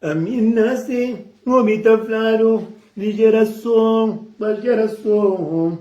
Ami nasi obi ta fladu di jerason pa jerason.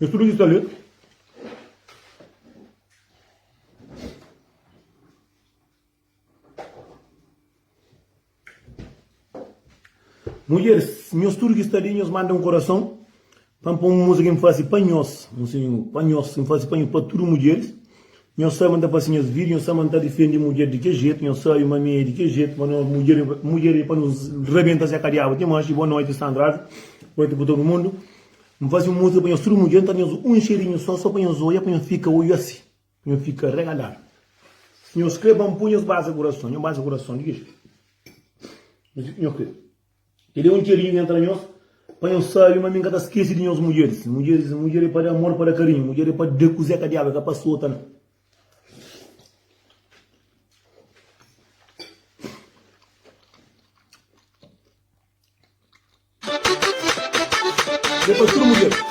Nhos tudu ki sta li. Mudjeris, nhos tudu ki sta li, nhos manda un korason pa N poi un múzika N faze pa nhos, un sinhor, pa nhos, N faze pa nhos, pa tudu mudjeris, Nhos sabe ma N ta fase nhos vídiu, nhos sabe ma N ta difende mudjer di kes jetu, nhos sabe ma mi é di kes jetu, ma nos mudjer é mudjer, é pa nos rabenta se kadiaba ti manxi. Boa noti Sandrazi, boa noti pa tudu mundu. N fase un músika pa nhos tudu mudjer, N ta da nhos un xeriñu sô, sô pa nhos oia, pa nhos fika oiósi, pa nhos fika regaladu. Si nhos kre, ba N pui nhos basa kurason, nhos basa kurason di ki jetu nhos kre. Kel é un txeriu ki entra nhos pa nhos sabe ma mi n ka ta skese di nhos mudjeris. Mudjeris, mudjer é pa da amor, pa da karinhu. Mudjer é pa da kuzé ka diaba, é ka pa sota na. É pa tudu mudjer.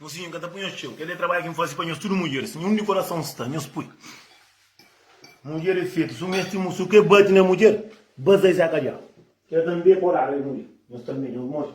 Mosinhu N ka ta pui nhos txeu Kel-li é trabadju ki N faze pa nhos Tudu mudjeris Nhun di korason sta nhos pui Mudjer é fetu suma es Tximú su ke bati na mudjer Bas da es é akadjadu Ke tanbe é porada el mudjer Nhos tanbe nhos modi.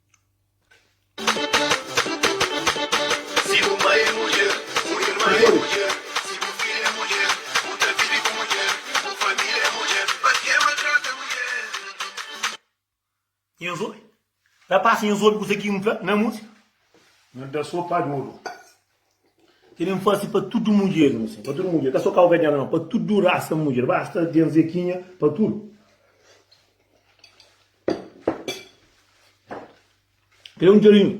Nhos oi, rapaz, nhos oi kusa ki N fla na músika. N da so pa djodu. Kel li N fase pa tudu mudjer N pa tudu mudjer Ka so kaukadianu nau Pa tudu rasa mudjer Basta ten zekinha pa tudu Kel li un djarinhu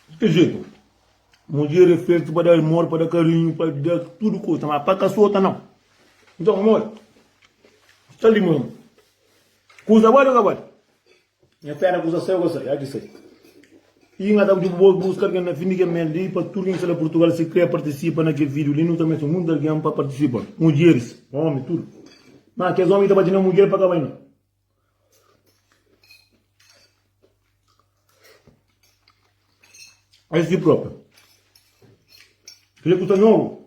Di kel jetu Mudjer e fetu pa da amor Pa da karinhu Pa da tudu kusa Má pa ka sota nau Nton amor Sta li ma Kusa bali o ka bali? Nha pé ta kusa sai o ka sai? Aki sai. I nga ta pidi bu bo buska algen na fin di kel mês li pa tudu kin sta la Purtugal si kre partisipa na kel video li. Nu ta meste munti algen pa partisipa, mudjeris, omi, tudu. Ma kes omi ki ta bati na mudjer pa ka bai na. Es si propi. Kel li ku sta nobu.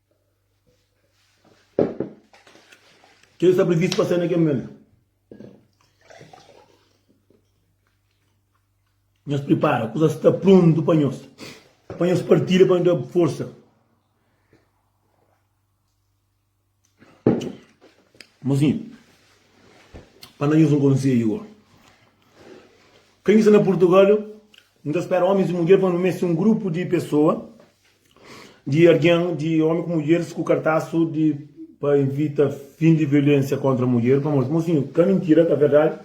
Ke ki sta privistu pa ser na kel mumentu? Nhos pripara, kuzas sta pruntu pa nhos, pa nhos partida, pa nhos da forsa. Mozinhu, pa da nhos un konsedju go, ke ki sta na Purtugal, N ta spera omis i mudjer pa nu meste un grupu di pesoa di argen di omi ku mudjeris ku kartasu di pa invita fin di violensia kontra mudjer pamodi mosinhu ka mintira ka verdadi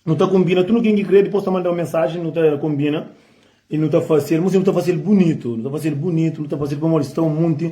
nu ta konbina tudu ken ki kre dipos ta manda un mensaji nu ta konbina i nu ta fasil mosinhu nu ta fasil bunitu nu ta fasil bunitu nu ta fasil pamodi sta un munti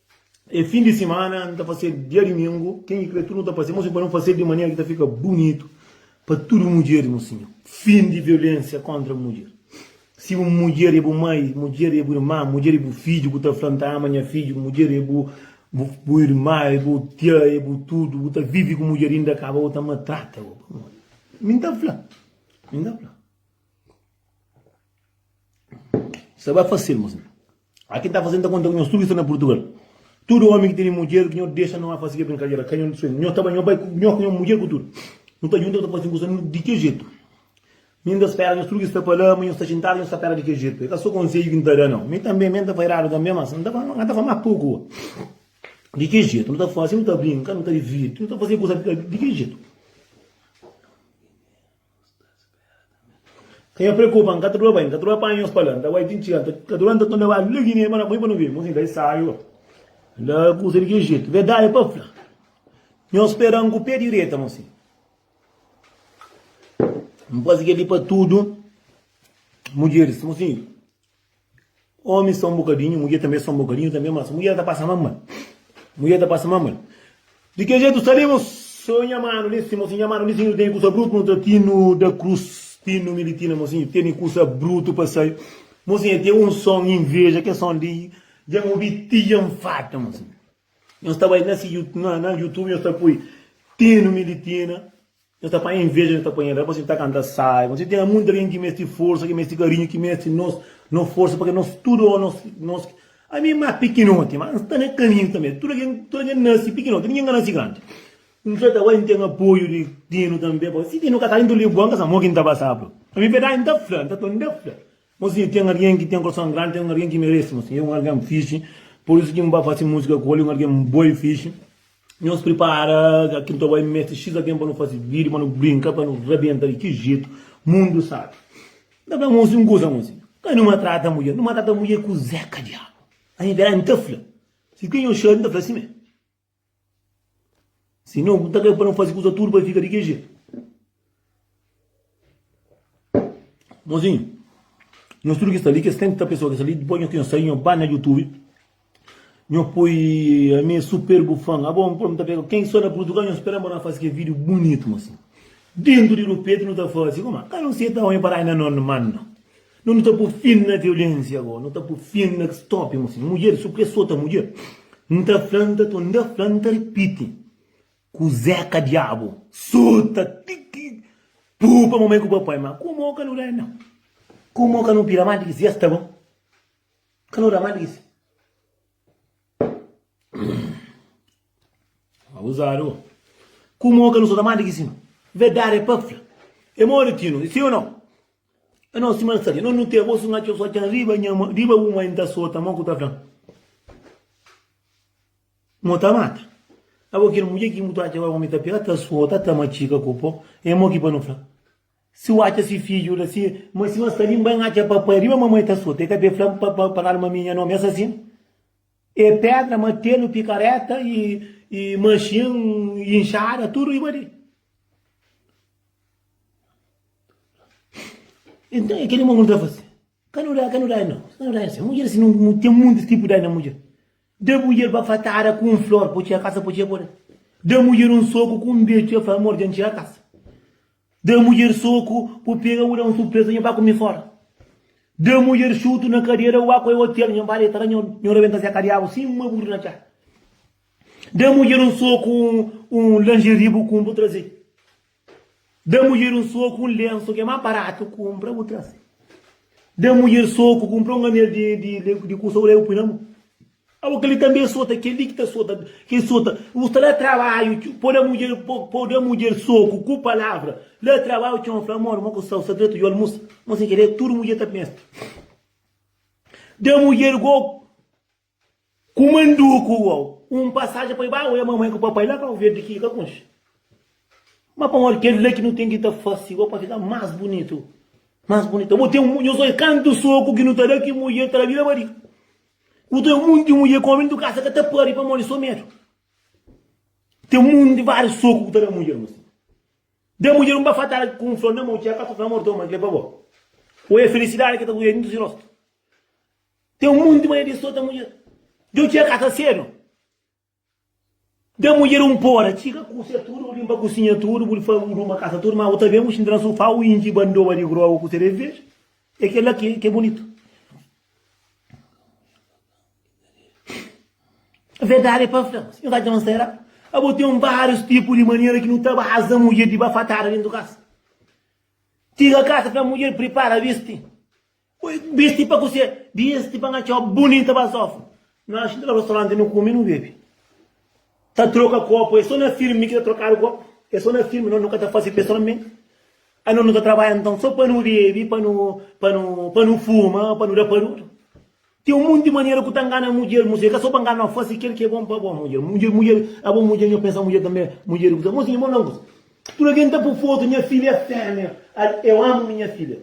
É fin di simana, nu ta fase dia dumingu, ten ki kre tudu nu ta fase, mo si pa nu fase di manera ki ta fika bunitu pa tudu mudjeris, mo sinhor. Fin di violensia kontra mudjer. Si bu mudjer é bu mai, mudjer é bu irma, mudjer é bu fidju ku ta fla, N ta ama nha fidju, mudjer é bu bu irma, é bu tia, é bu tudu, bu ta vivi ku mudjer inda ka ba bo ta matrata bo, pamodi mi N ta fla, mi N ta fla. Sa ba fasil mos na. A ki ta fasil ta konta ku nhos tudu ki sta na Purtugal. Tudu omi ki tene mudjer ki nhos dexa no a fasi kel brinkadera ka. Nhos ta bai, nhos bai ku nhos, ku nhos mudjer ku tudu. Nu ta junta nu ta fasi un kusa nu di kel jetu. Mi N ta spera nhos tudu ki sta pa la ma nhos sta xintadu nhos ta pera di kel jetu. E ka so konsedju ki N ta da nau. Mi tanbe, mi N ta fairadu tanbe mas N ta fla, N ta fla mas poku. Di kel jetu nu ta fasi, nu ta brinka, nu ta divirti, nu ta fasi kusa di kel jetu. Ka nha preokupa, N ka ta dura bai, N ka ta dura panha nhos pa la, N ta bai ti N txiga, N ta dura N ta tonda bai Ligi nha irma na poi pa nu vive Mon sin ta e saiu N ta kusa di kel jetu Verdadi pa fla, nhos spera-m ku pé direta Mon sin, N faze kel-li pa tudu mudjeris Mon sin, Omi sta un bokadinhu, mudjer tanbe sta un bokadinhu tanbe mas mudjer ta pasa mas mal. Mudjer ta pasa mas mal. Di ke jetu sta li mos so nha manu li si, mosi nha manu li si nu teni kusa brutu nu ta tinu da krus tinu mi di tina mosi nu teni kusa brutu pa sai mosi nha teni un son inveja ke son li dja n obi ti dja n farta mosi nhos ta bai na si na na youtube nhos ta poi tinu mi di tina. Nhos ta panha inveja, nhos ta panha raiba, pamodi si nu ta kanta sai, pamodi si ten munti algen ki meste forsa, ki meste karinhu, ki meste nos nos forsa, pamodi nos tudu nos nos ki. Ami ma pikinoti, ma N sta na kaminhu tanbe, tudu algen tudu algen nase pikinoti, ningen ka nase grandi. N fla ta bai N ten apoiu di Tinu tanbe, pamodi si Tinu ka sta di N ta libu-l, N ka sa mo ki N ta pasaba. Ami verdadi N ta fla, N ta toma, N ta fla. Mo sinha ten argen ki ten korson grandi ten argen ki meresi mo sinha é un argen fixi por isu ki nba fase musika ku el é un argen bo i fixi nhos pripara ki nta bai meste xis argen pa nu fase video pa nu brinka pa nu rabenta di ki jetu mundu sabi nta fla mo sin kusa mo sinha ka nu matrata mudjer nu matrata mudjer kuzé ka diabu ainda la nta fla si ki nhos xadu nta fla si mé. Si não, nta ben pa nau fazi kuza tudu pa fika di kel jetu. Mozinhu, nhos tudu ki sta li, kes 30 pesoa ki sta li, dipos nhos sai nhos ba na youtube, nhos poi ami super bu fan, abo npro nta pega ken ki sta na purtugal nhos spera bo na fazi kel video bunitu mozinhu. Dentu di rupeti nu ta fazi, kuma? Ka nu seta omi pa dai na non mano. No nu ta pu fin na violensia go nu ta pu fin na ki stopi musin mudjer su kle sota mudjer n ta flan ta ton da flan ta ripiti kuzé ka diabu sota ti ki pu pa mamai ku papai ma ku mo ka nu da na ku mo ka nu pira ma di ki si esta bo ka nu da ma di ki si abuzadu ku mo ka nu sota ma di ki si verdade pa fla e modi tinu si o no É nos sima sa dja nos nu tê bo su na txeu só txan riba nha ma riba bu mai nta sota mo ku ta flan mo ta mata a bo kel mudje ki bu ta atxa agora omi ta pega ta sota ta matxika ku po é mo ki pa nu fla si u atxa si fidju la si ma si ma sta li n bai n atxa papai riba mamai ta sota e ka be fla pa pa pa nada ma mi nha nomi é asasinu E pedra, matelu, pikareta y y maxin y inxada tudu riba di. Então é que ele mandou fazer. Quando dá, quando dá, não. Quando dá, assim. Mulher, assim, não, tem muitos tipos de mulher. Da mulher bafatada com um flor, pode tirar a casa, pode tirar a Da mulher um soco com um beijo, eu falo, amor, diante a casa. Da mudjer soku ku pega u da un surpresa nha ba ku mi fora da mudjer xutu na kadera u ba ku el hotel nha ba deta la nha nha rebenta se kadiabu sima buri na txa da mudjer un soku un un lingerie bu kunpru traze da mudjer un soku un lensu ke ma baratu kunpra bu traze da mudjer soku kunpra un anel di di di kusa u leba u pui na mu. Awa kel li tanbe e sota kel li ki ta sota kel sota u ta da trabaiu txeu po da mudjer po da mudjer soku ku palavra da trabaiu txeu fla amor mo ku sa u sa dretu yo almusa mo sen kere tudu mudjer ta pensa da mudjer go ku manduku uau un pasaja pa i ba oia mamai ku papai la kau verdi ki i ka konxe ma pamodi kel la ki nu ten ki ta fase go pa fika mas bunitu mas bunitu bo ten nhos oi kantu soku ki nu ta da ki mudjer ta da bira bariga. Ku ten monti di mudjer ku omi ntu kasa ka ta pari pamodi so medu. Ten monti di vários soku ku ta da mudjer ma si da mudjer un bafatada ku un flor na mou txeu ka ta fla amor toma kel-li pa bo. Oi a felisidadi ki ta brilha dintu si rostu. Ten monti manera di sota mudjer. Djo txeu ka ta sedu. Da mudjer un pora, txiga kusia tudu, bu linpa kusinha tudu, bu ruma kasa tudu, ma bu ta ben bu xinti na sufá, bu intxi bandoba di groba, bu kusia dês bês. É kel-la ki é bunitu. Verdadi é pa N fla-bos, N ka dja-m será? Abo ten várius tipu di manera ki nu ta baza mudjer di bafatada dentu kasa. Txiga kasa, fla mudjer, pripara, visti. Oi bisti pa kuse bisti pa nha txo bunita ba sofu nu axa intra restaurante nu kume nu bebe ta troka kopu e so na filme ki ta trokadu kopu e so na filme nos nu ka ta fase pessoalmente a nos nu ta trabadja nton so pa nu bebe pa nu pa nu pa nu fuma pa nu da parudu tem um monte di manera ku ta ngana mudjer musé ka so pa ngana fase kel ki é bom pa bo mudjer mudjer mudjer a bo mudjer nho pensa mudjer tanbe mudjer kusa mosi nho mon na un kusa tudu algen ta pu foto nha filha é femia eu amo minha filha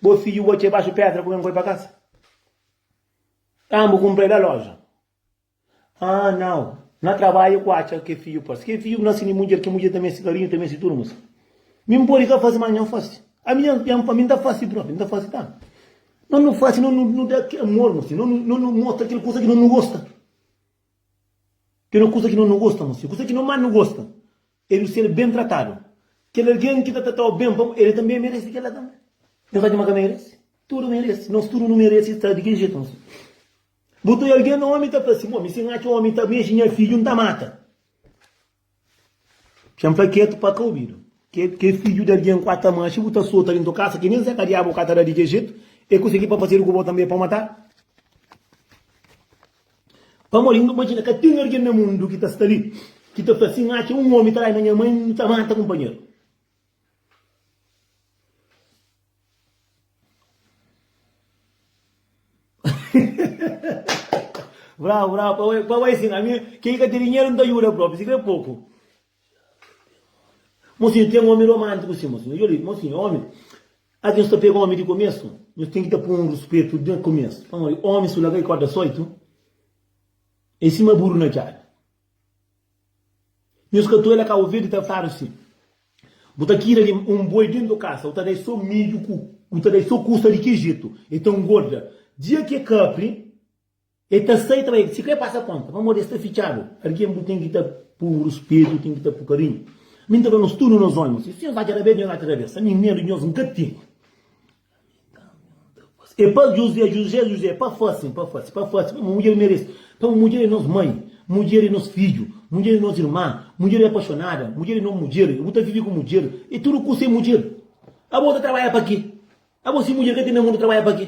Bo fidju botxa ibaxu pédra kuma é n'koi pa kasa? Aa n'bu kunpra-i da loja? Aa nau, na trabadja ku atxa ke fidju parsi. Ke fidju ku nase di mudjer, ke mudjer ta meste karinhu, ta meste tudu mos. Mi n'podi ka fasi, mas nha n'fasi. Ami ami n'ta fasi propi, n'ta fasi tanbi. Nos nu fasi, nos nu da ke amor mos. Nos nu mostra kel kusa ke nos nu gosta. Kel kusa ke nos nu gosta mos. Kusa ke nos mas nu gosta. El nu ser ben tratadu. Kel algen ki ta tratau ben pa mu, el tanbe meresi kel la tanbe. Nhos atxa ma ka meresi? Tudu meresi. Nos tudu nu meresi sta di kel jetu. Bu ta oi algen na omi ta fla sin, Bo, mi si N atxa omi ta mexi nha fidju, N ta mata. Txen fla ketu pa ka obidu. Kel fidju di algen ku ata manxi bu ta sota dentu kasa ki nen se ka diabu ka ta da di kel jetu, el konsegi pa fasedu ku bo tanbe pa matal. Pamodi nu ta imajina ka ten algen na mundu ki ta sta li ki ta fla sin, Atxa un ómi ta la i na nha mai, nu ta manta kunpanheru. Bravu, bravu, pa bai sin. Ami, ke ki ka ten dinheru nu ta djuda própi, si krê poku. Mosinhu, ten omi romántiku si, mosinhu. Dja li, mosinhu, omi. Algen sta pega omi di komesu? Nhos ten ki ta pô un ruspetu di komesu. Pamodi omi su la ka é korda sóitu, é sima buru na djada. Nhos ka too el a ka ovedu ta fadu si, Bu ta kira di un boi dentu kasa, bu ta da-i sô midju ku bu ta da-i sô kusa di ki jetu, el ta ngorda. Dia ki el kapri. E ta sai ta bai, si ka e pasa konta, pamodi e sta fitxadu. Algen bu ten ki ta pun ruspetu, ten ki ta pun karinhu. Mi N ta fla nos tudu, nos ómi, si nhos atxa rabés, nhos atxa rabés. Ami, medu di nhos N ka ten. E pa Juzé, Juzé, Juzé, e pa fase-m, pa fase, pa fase, pamodi un mudjer merese. Pamodi mudjer e nos mai, mudjer e nos fidju, mudjer e nos irma, mudjer e apaxonada, mudjer e no mudjer, bu ta vive ku mudjer, e tudu kusa e mudjer. Abo ta trabadja pa ke? Abo si mudjer ka ten na mundu, trabadja pa ke?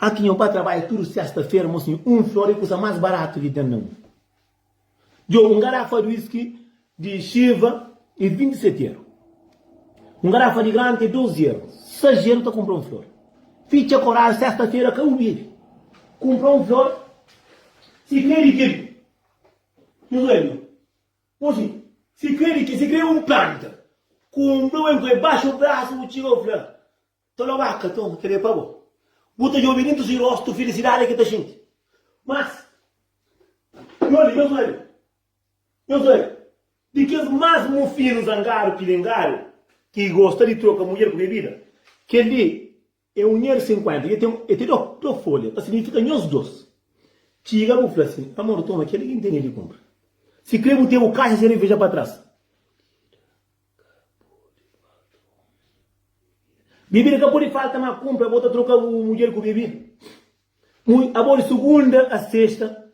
Aki nho ba trabadja tudu sesta fera mo sinho um flor é kusa mas baratu ki ten na mundu djo um garafa di whisky di chiva é 27 euro um garafa di grant é 12 euro sais euro ta kumpra um flor fitxa koral sesta fera ka u bebe kumpra um flor si kre di kil nhu sueño. Oxi, si kre di ke? Si kre un planta ku un blumen poi baxu brasu, bu txiga, bu fla, Ta lobaka, toma, kel-li é pa bo. Bu ta djobe dentu si rostu filisidadi ki ta xinti. Mas, nhos li, nhos obi, nhos obi, di kes más mufinu zangadu ki lingadu ki gosta di troka mudjer ku bebida, kel-li. É un nhêr sinkuénta. I el te da-u da-u fólia, ta signifika nhos dôs. Txiga bu fla sin, Amor, toma, kel-li ki N tene di kunpra. Si krê bu ten bu kaxa sereveja pa tras. Bebida ka pode falta, má kunpra bo ta troka bu mudjer ku bebida. Mu abó di sugunda a sesta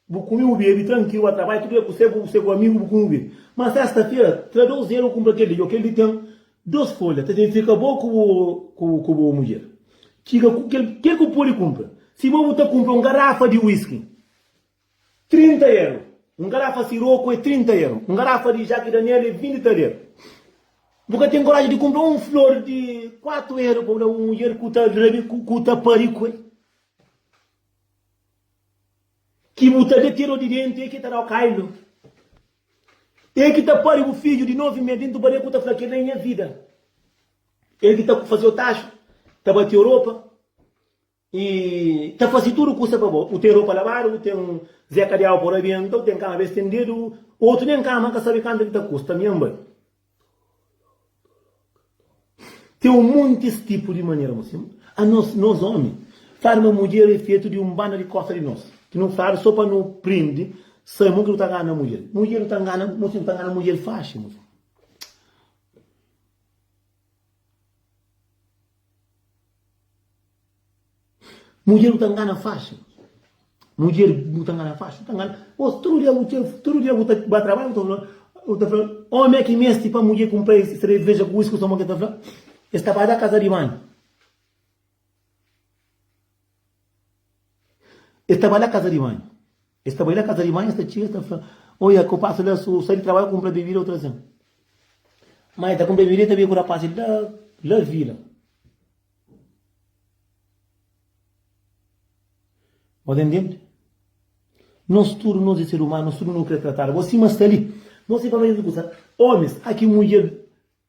Bu kume bu bebe trankilu, ba trabalha, tudu ke ku se bu, se bu amigu, bu kume bu bebe. Ma sesta-fera, tra dos dera, bu kunpra kel li, o kel li ten dos folha, ta ten fika bo ku bu, ku, ku bu mudjer. Txiga ku kel, kel ku pode kunpra. Si bo bu ta kunpra un garafa di wiski, trinta eru, un garafa siroku e trinta eru, un garafa di Jaki Daniel e vinti taler. Bu ka ten koraji di kunpra un flor di kuatu eru pa bu da bu mudjer ku ta rabi, ku ta pari ku el. Ki bu ta da tiro di dentu, e ki ta da-u kailu. E ki ta pari bu fidju di novi mes dentu baleku ta fla, Kel-la é nha vida. E ki ta faze-u taxu, ta bate-u ropa y ta faze tudu kusa pa bo. U ten ropa labadu, u ten zeka di awa pa u rabenta, u ten kama be stendedu, otu nen kama ka sabe kantu el ta kusta. Mianba! Ten un monti es tipu di manera ma sima anos, nos omi fadi ma mudjer e fetu di un banda di kosa di nos ki nu fadi so pa nu prindi sai mon ki nu ta ngana mudjer. Mudjer nu ta ngana, mo sima nu ta ngana mudjer faxi. Mudjer bu ta ngana faxi. Mudjer bu ta ngana faxi. Tudu dia tudu dia bu ta ba trabadju bu ta fla omi é ki meste pa mudjer kunpra es sereveja ku uisku soma ku el ta fla es ta ba da kaza di banhu. Es ta ba da kaza di banhu. Es sta bai la kaza di mai, es ta txiga, es ta fla, Oi, a ku pasa la, su sai di trabadju, kunpra bebida, u traze-m. Ma el ta kunpra bebida, el ta bai ku rapaz li la vila. Bo ta intende? Nos tudu, nos é ser umanu, nos tudu nu kre tratadu bo. Sima sta li, no siba, no é tudu kusa. Omis, aki mudjer.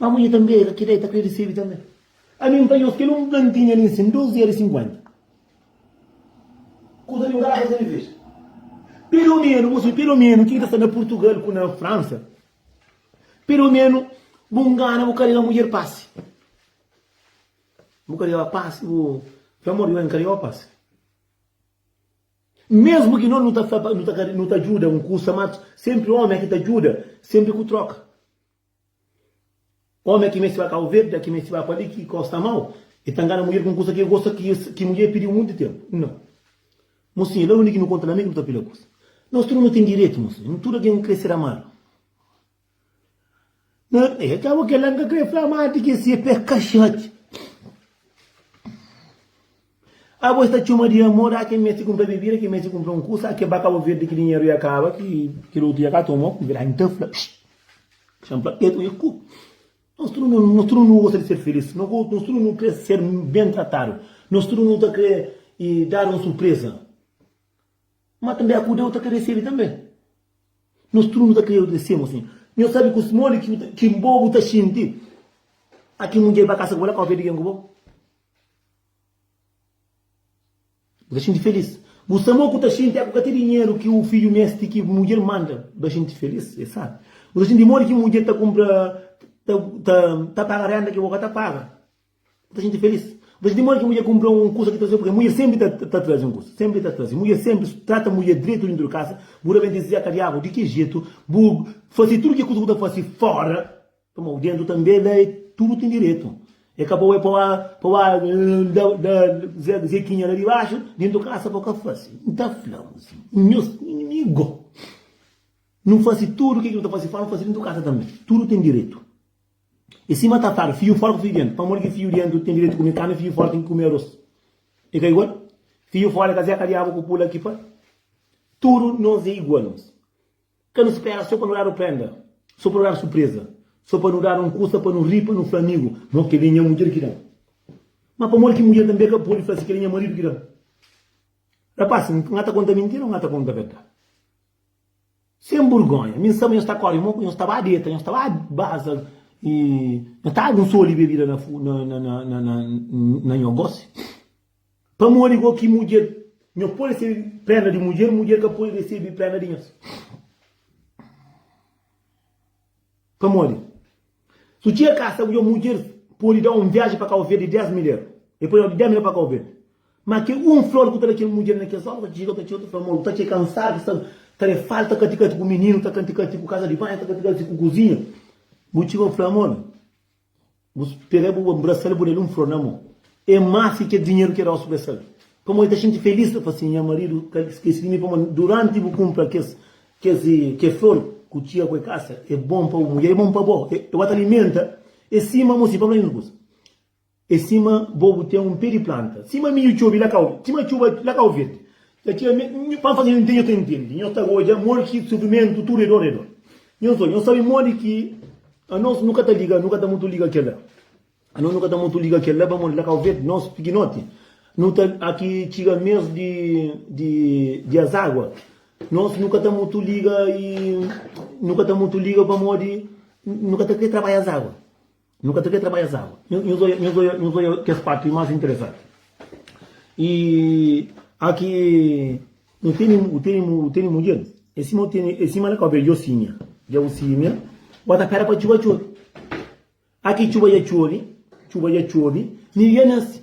Ma mudjer ta nbega ki da e ta krê disebe tanbe. Ami N ta nhos kel un plantinha li nsin, dos era e sinkuenta. Kuza di un garrafa ta serveja. Pelomenu, bo sabe, pelomenu kin ta sta na Purtugal ku na Fransa, pelomenu bu ngana bu karega mudjer pasi. Bu karega pasi, bu fla, amor, yo N karegau pasi. Mesmu ki nos nu ta fla pa, nu ta, nu ta djuda un kusa, ma sempri omi é ki ta djuda, sempri ku troka. Ómi ki meste ba ka ovelha, ki meste ba pa li, ki gosta mau, el ta ngana mudjer ku un kusa ki el gosta, ki mudjer pidiu monti ténpu. Nau. Mosinha, la undi ki nu konta la, mi ki bu ta pila kusa. Nos tudu nu ten direitu, mosinha. Nu tudu algen nu krê ser amadu. Na. Ei, djabu kel la, N ka krê fla mati ki es é pé kaxati. Abo es ta txoma di amor, a ke meste kunpra bebida, ke meste kunpra un kusa, a ke ba Kabo Verdi ki dinheru ya kaba, ki kel otu ya ka toma, ku virá inta fla, pshit! Xan pla petu nha ku! Nos tudu nu, nos tudu nu gosta di ser filís, no go, nos tudu nu kre ser ben tratadu, nos tudu nu ta kre e dadu un surpreza, ma tanbe a ku Deus ta kre resebi tanbe, nos tudu nu ta kre odesemu si nho sabi kus modi ki, ki bo bu ta xinti, a ke mudjer ba kasa ku bo la Kabo Verdi gen ku bo? Bu ta xinti felis? Bu sta mo ku ta xinti épuka ti dinheru ki bu fidju meste ki mudjer manda ba xinti felis? Es sabi. Bu ta xinti modi ki mudjer ta kunpra ta ta paga rénda ki bo ka ta paga? Bu ta xinti felis? Bu ta xinti modi ki mudjer kunpra un kusa ki ta trazê? Purkê mudjer sénpri ta ta traze un kusa. Sénpri ta traze. Mudjer sénpri trata mudjer dretu dentu di kasa. Bu ta ben dizê, Zeka diabu, di ki jetu bu fase tudu ki kusa ku ta fase fóra Toma o dentu tanbe la e tudu ten diretu e ka pa ue pa ua da zekinha la dibaxu dentu kasa pa ka fasi n ta fla mu si nhos inimigo nu fasi tudu ke ki nu ta fasi fora nu fasi dentu kasa tanbe tudu ten diretu e sima ta fla fiu fora ku fiu dentu pamodi ki fiu dentu ten diretu kume karni fiu fora ten ki kume arros e ka igual fiu fora e ka zeka diabu ku pula ki pa tudu nos e igual. Ka nu spera so pa nu dadu prenda, so pa nu dadu surpreza, so pa nu dadu un kusa pa nu ri, pa nu fla amigu, No, kel-li é nha mudjer ki da-m. Má pamodi ki mudjer tanbê ka pode fla si, Kel-li é nha maridu ki da-m? Rapas, N ka ta konta mintira ô N ka ta konta verdadi? Sen burgónha, mi N saba nhos ta kóre mo, nhos ta ba deta, nhos ta ba baza i nhos ta agu un soli bebida na nha gósi. Pamodi go ki mudjer nhos pode resebe préna di mudjer, mudjer ka pode resebe préna di nhos. Pamodi, si bu txiga kasa, bu dja mudjer pode da un viaji pa Kabu Verdi di dés milher. El pode da-u di dés milher pa Kabu Verdi. Má ki un flor ku ta da kel mudjer na kes óras, bu ta txiga, bu ta txiga, bu ta fla, Amor, bu ta txia ki ansadu ki sta ta da-l. Fal ta kati-kati ku mininu, ta kati-kati ku kaza di banhu, ta kati-kati ku kuzinha. Bu txiga, bu fla, Amor. Bu spera bu ba nbrasa-l, bu da-l un flor na mô. É más ki kel dinheru ki el da-u spesal. Pamodi el ta xinti felís, ta fla sin, Nha maridu ka skese di mi, pamodi duránti bu kunpra kes kel flor ku txia ku e kasa, é bon pa bu mudjer, é bon pa bo, el ba ta alimenta, é sima mô si pa fla nhos kusa. É sima bo bu ten un pé di planta, sima midju txobi la kau, sima txuba la kau verdi, Dja tira me. Nho pa N faze ntende, nho ta ntende. Nho ta odja modi ki sufrimentu tudu é dor, é dor. Nho só, nho sabe modi ki anos nu ka ta liga, nu ka ta mutu liga kel-la. Anos nu ka ta mutu liga kel-la pamodi la Kauverde, nos pikinoti, nu ta a ki txiga mes di di di azágua, nos nu ka ta mutu liga i nu ka ta mutu liga pamodi nu ka ta krê trabadja azágua. Nu ka ta krê trabadja es água. Nhos odja kes párti más interesanti. I aki nu tene mudjer. É sima el é kópia di Djosinha. Djosinha bo ta pera pa txuba txobi. Aki txuba dja txobi, txuba dja txobi, nil dja nase.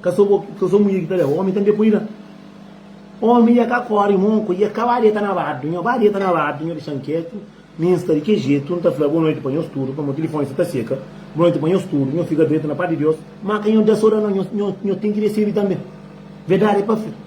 Ka so bo, ka so munhê ki ta da-u, ómi tanbe poi la. Ómi dja ka kóre mónku, dja ka ba deta na badu. Nho ba deta na badu, nho dexa-m ketu. Mi N sta di kel jetu, N ta fla bonoiti pa nhos tudu, pamodi tilifóni sta ta seka. Bonoiti pa nhos tudu, nho fika dretu na pátria di Deus. Má ka nho da so da no, nho ten ki resebe tanbe. Verdadi é pa fla.